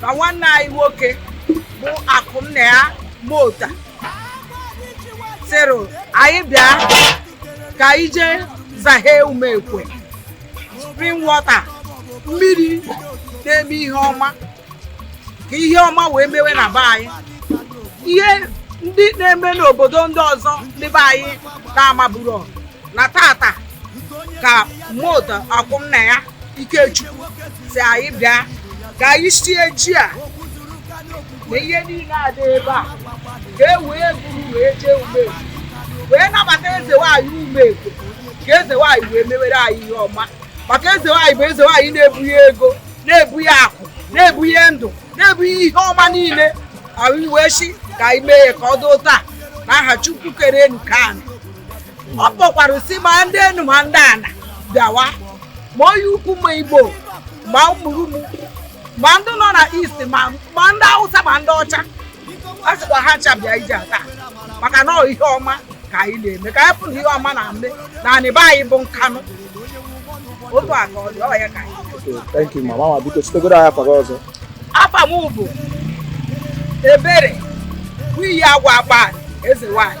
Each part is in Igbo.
na nwanne anyị nwoke bụ akụ nna ya mota sịrị anyị bịa ka anyị jee zahe umekwe spring water mmiri na-eme ihe ọma ka ihe ọma wee mewe na be anyị ihe ndị na-eme n'obodo ndị ọzọ ndị be anyị na-amaburo na taata ka mota akụ nna ya ikechukwu si anyị bịa ka anyị sie ji a na ihe niile a dị ebe a ka e wee buru wee jee umegwu wee nabata eze nwaanyị umegwu ka eze nwaanyị wee mewere anyị ihe ọma maka eze nwaanyị bụ eze nwaanyị na-ebuhe ego na-ebuhe akụ na-ebuhe ndụ na-ebuhe ihe ọma niile anyị wee si ka anyị mee ya ka ọ dị otu a na aha chukwu kere enu kee anị ọ kpọkwara si ma ndị enu ma ndị ana bịawa ma onye ukwu ma igbo ma ụmụrụmụ ma ndị nọ na east ma ma ndị awụsa ma ndị ọcha a sịkwa ha ncha bịa ije a taa maka na ọ ihe ọma ka anyị na-eme ka anyị fụrụ ihe ọma na-eme na anị be anyị bụ nkanụ otu a ka ọ dị ọ ya ka anyị Okay, thank you, mama. Mama, biko chetagoro anyị afa gị ọzọ. afa m bụ ebere nwunye agwa agba eze nwanyị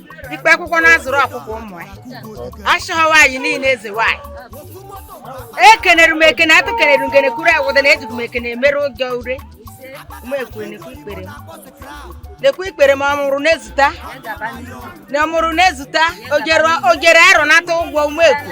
ikpe akwụkwọ na-azụrụ ọkpụkpụ ụmụ ya achọghị nwaanyị niile eze nwaanyị ekenere m ekene atụ kenere ngene kuru awụda na ejighị m ekene mere ụjọ ure m ekwere nekwe ikpere m nekwe ikpere m ọmụrụ na-ezute na ọmụrụ na-ezute ojere arọ nata ụgwọ ume ekwu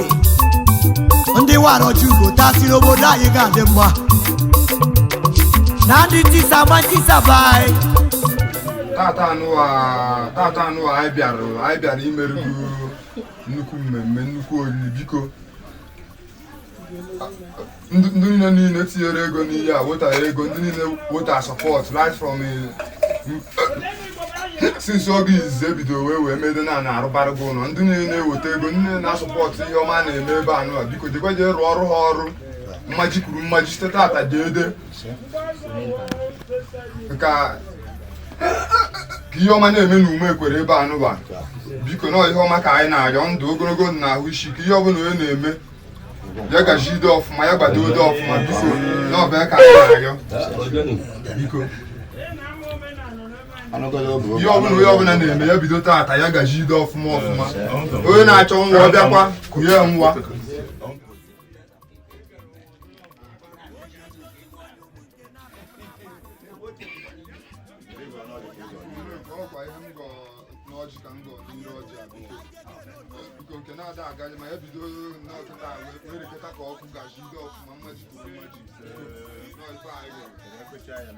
ndị wara ọjị ugo taa siri obodo anyị ga-adị mma na ndị tisa ma tisa be anyị taata anụwa taata anụwa anyị bịara anyị bịara imerụ nnukwu mmemme nnukwu oriri biko ndị niile niile tinyere ego n'ihe a wetara ego ndị niile weta sọpọt right from since oge izizi e bido wee wee mede na na-arụbara gị ụlọ ndị niile na-eweta ego ndị niile na-asọpọtụ ihe ọma na-eme ebe anụwa biko jekwa jee rụọ ọrụ ha ọrụ mmaji kwuru mmaji site taata deede ka ihe ọma na-eme na ume ekwere ebe anụwa biko na ihe ọma ka anyị na-arịọ ndụ ogologo na ahụ isi ike ihe ọbụla onye na-eme ya gajide ọfụma ya gbadode ọfụma biko na ọ bụ ya ka anyị na-arịọ biko ihe ọbụla onye ọbụla na-eme ya bido taata ya gajide ọfụma ọfụma onye na-achọ nwa ọ bịakwa kụnye ya nwa ọkwa ihe m gọ n'ọjị ka m gọ n'ire ọjị abụọ biko nke na-ada agaghị ma ya bido n'ọkịta werekọta ka ọkụ ga-eji dị ọfụma mmaji kwuru mmaji na ọ ife anyị gọrọ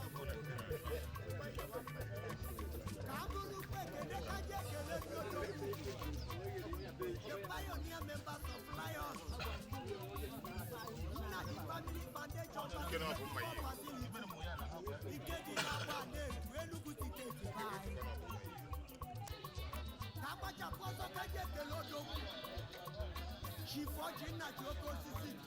ka m buru ukwu ekele ka ji ekele ndị otu the pioneer members of Lion Nnaji family foundation facility ike dị n'agba na-eju Enugu tiketi be anyị ka agbachapụ ọsọ ka m ji ekele odogwu Chief Ọjị Nnaji oke osisi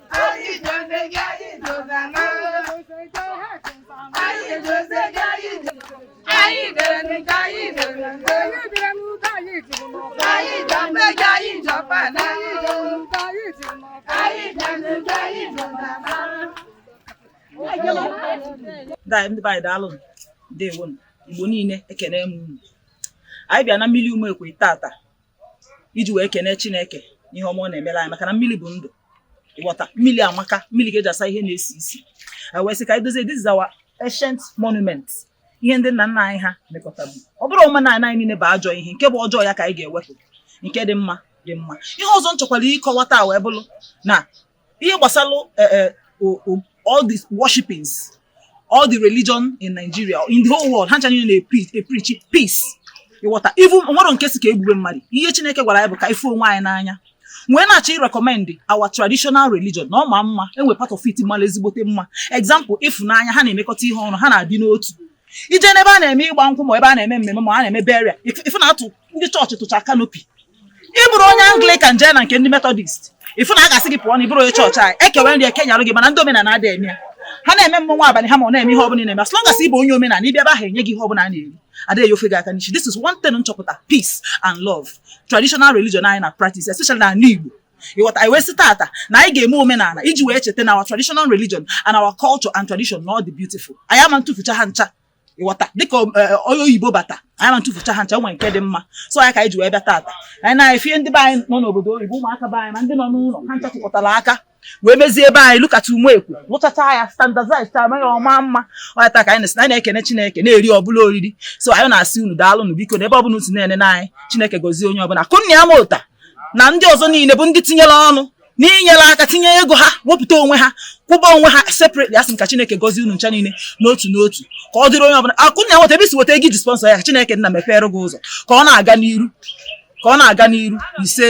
ndị be anyị daalụ ndewo Igbo niile ekene m unu anyị bịa na mmiri Umekwe tata iji wee kene Chineke ihe ọma ọ na-emere anyị maka na mmiri bụ ndụ ị ghọta mmiri amaka mmiri ka e ji asa ihe na-esi isi wee sị ka anyị dozie this is our ancient monument ihe ndị nna nna anyị ha mekọtabu ọ bụrọ omenala anyị niile bụ ajọ ihe nke bụ ọjọọ ya ka anyị ga-ewepụ nke dị mma dị mma ihe ọzọ m chọkwara ịkọwata wee bụrụ na ihe gbasara eh, eh, all these worshipings all the religion in Nigeria in the whole world ha ncha niile na-eprichi peace ị ghọta e nwerọ nke sị ka e gbube mmadụ ihe Chineke gwara anyị bụ ka ịfụ onwe anyị n'anya wee na-achọ ịrekọmendị our traditional religion na ọ ma mma e nwe part of it mara ezigbote mma example ịfụnanya ha na-emekọta ihe ọnụ ha na-adị n'otu i je n'ebe a na-eme ịgba nkwụ ma ebe a na-eme mmemme ma a na-eme burial ife na-atụ ndị chọọchị tụcha canopy ị bụrụ onye Anglican jee na nke ndị Methodist ị fụ na a ga-asị gị pụọ na ị bụrọ onye chọọchị anyị e kewe nri e kenyerọ gị mana ndị omenala adị eme ya ha na-eme mmọnwụ abalị ha ma ọ na-eme ihe ọbụla na-eme as long as ị bụ onye omenala ị bịa ebe ahụ e nye gị ihe ọbụla a na-eri adịghị efe gị aka n'isi this is one thing m chọpụta peace and love traditional religion anyị na practice especially na ala Igbo ị ghọta anyị wee sị tata na anyị ga-eme omenala iji wee cheta na our traditional religion and our culture and tradition na ọ dị beautiful anyị ama atụfucha ha ncha ị ghọta dịka onye oyibo bata anyị ama atụfucha ha ncha e nwe nke dị mma so ya ka anyị ji wee bịa taata anyị na-efie ndị be anyị nọ n'obodo oyibo ụmụaka be anyị ma ndị nọ n'ụlọ ha ncha tụkọtara aka wee mezie ebe anyị lụkata Umekwe lụchacha ya standardize ta amaghị ọ maa mma ọ ya ta ka anyị na-ekene Chineke na-eri ọbụla oriri so anyị na-asị unu daalụ nụ biko na ebe ọbụla unu na-ene na anyị Chineke gozie onye ọbụla kụnna ya ma ụta na ndị ọzọ niile bụ ndị tinyere ọnụ n'inyere aka tinye ego ha wepụta onwe ha kwụba onwe ha separately asị m ka Chineke gọzie unu ncha niile n'otu n'otu ka ọ dịrị onye ọbụla akụ na nweta ebe i si weta ego i ji sponsor ya ka Chineke nna mepere gị ụzọ ka ọ na-aga n'iru ka ọ na-aga n'iru ise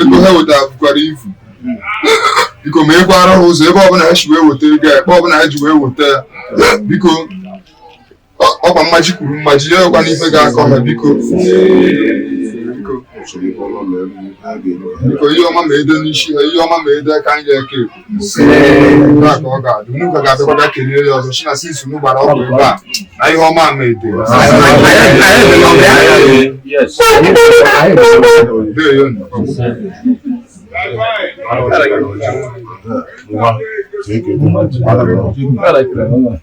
ego ha wetara bukwara ivu biko meghekwara ha ụzọ ebe ọbụla ha si wee weta ego ebe ọbụla ha ji wee weta ya biko ọkwa mmaji kwuru mmaji ya ọkwa n'ife ga-akọ ha biko biko ihe ọma ma edo n'isi ha ihe ọma ma edo aka anyị eke ekwu na ka ọ ga-adị unu ka ga-abịakwada kelee ya ọzọ china since unu gbara ọgwụ ebe a na ihe ọma ma edo Thank you.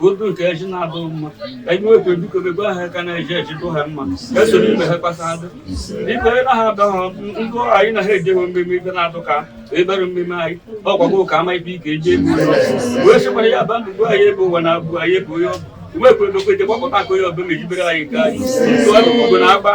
otu nke eji na-adụ mma ka anyị nwekwa biko bebe aha ka na-eji eji dụ ha mma ka esoro ime ha kpasa adụ biko ebe ha adụ ha ndụ anyị na ha ejeghị mmemme ibe na-adụ ka ebere mmemme anyị ọgwagwo ka ama ibe ike eji egbu wee sịkwara ya ba ndụ bụ anyị ebe ụwa na-abụ anyị ebe onye ọ bụ nwekwa ebekwe eje gbakọta aka onye ọbụla ejibere anyị nke anyị tụọ ugbo na agba